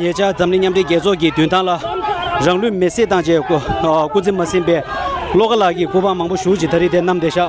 ཉེ་ཆར་འཛམ་གླིང་མཉམ་འབྲེལ་རྒྱལ་ཚོགས་ཀྱི་མདུན་ཐང་ལ་རང་ལུས་མེ་བསྲེགས་བཏང་རྗེས་སྐུ་ཚེ་མ་ཟིན་པའི་བློ་དགའ་ལགས་ཀྱི་སྐུ་པར་མང་པོ་བཞུགས་ཅིང་ད་རེས་དེ་རྣམས་བདེ་ཞག་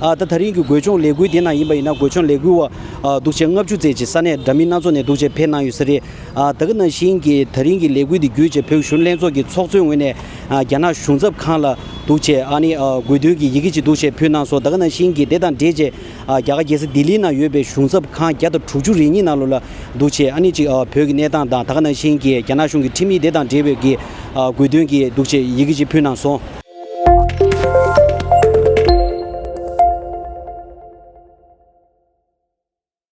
ཨ་ད་ད་རིང་གི་བགོད་ལྗོངས་ལས་འགུལ་དེ་ནང་ཡིན་པ་ཡིན་ན་བགོད་ལྗོངས་ལས་འགུལ་བ་འདུག་ཆེ་ལྔ་བཅུ་བརྩེགས་ཀྱི་ས་གནས་འདྲ་མིན་སྣ་ཚོགས་ནས་འདུག་ཆེ་ཕེབས་གནང་ཡོད་ས་རེད། ད་གི་ན་ཞིང་གི་ད་རིང་གི་ལས་འགུལ་འདི་བརྒྱུད་ཆེ་བོད་གཞུང་ལྷན་ཚོགས་ཀྱི་ཚོགས་གཙོའི་ངོས་ནས། རྒྱ་ནག་གཞུང་ཚབ་ཁང་ལ་འདུག་ཆས་ཨ་ནི་དགོས་འདུན་གྱི་ཡི་གེ་ཅིག་འདུག་ཆས་ཕུལ་གནང་སོང་ད་ག་ནང་བཞིན་གྱི་དེ་དང་འབྲེལ་ཆས་རྒྱ་གར་རྒྱལ་ས་ལྡི་ལི་ནང་ཡོད་པའི་གཞུང་ཚབ་ཁང་བརྒྱ་དང་དྲུག་ཅུ་རེ་གཉིས་ནང་ལོ་ལ་འདུག་ཆས་ཨ་ནི་ཅིག་བོད་ཀྱི་གནས་སྟངས་དང་ད་ག་ནང་བཞིན་གྱི་རྒྱ་ནག་གཞུང་གི་ཁྲིམས་ཡིག་དེ་དང་འབྲེལ་བའི་གི་དགོས་འདུན་གྱི་འདུག་ཆས་ཡི་གེ་ཅིག་ཕུལ་གནང་སོང།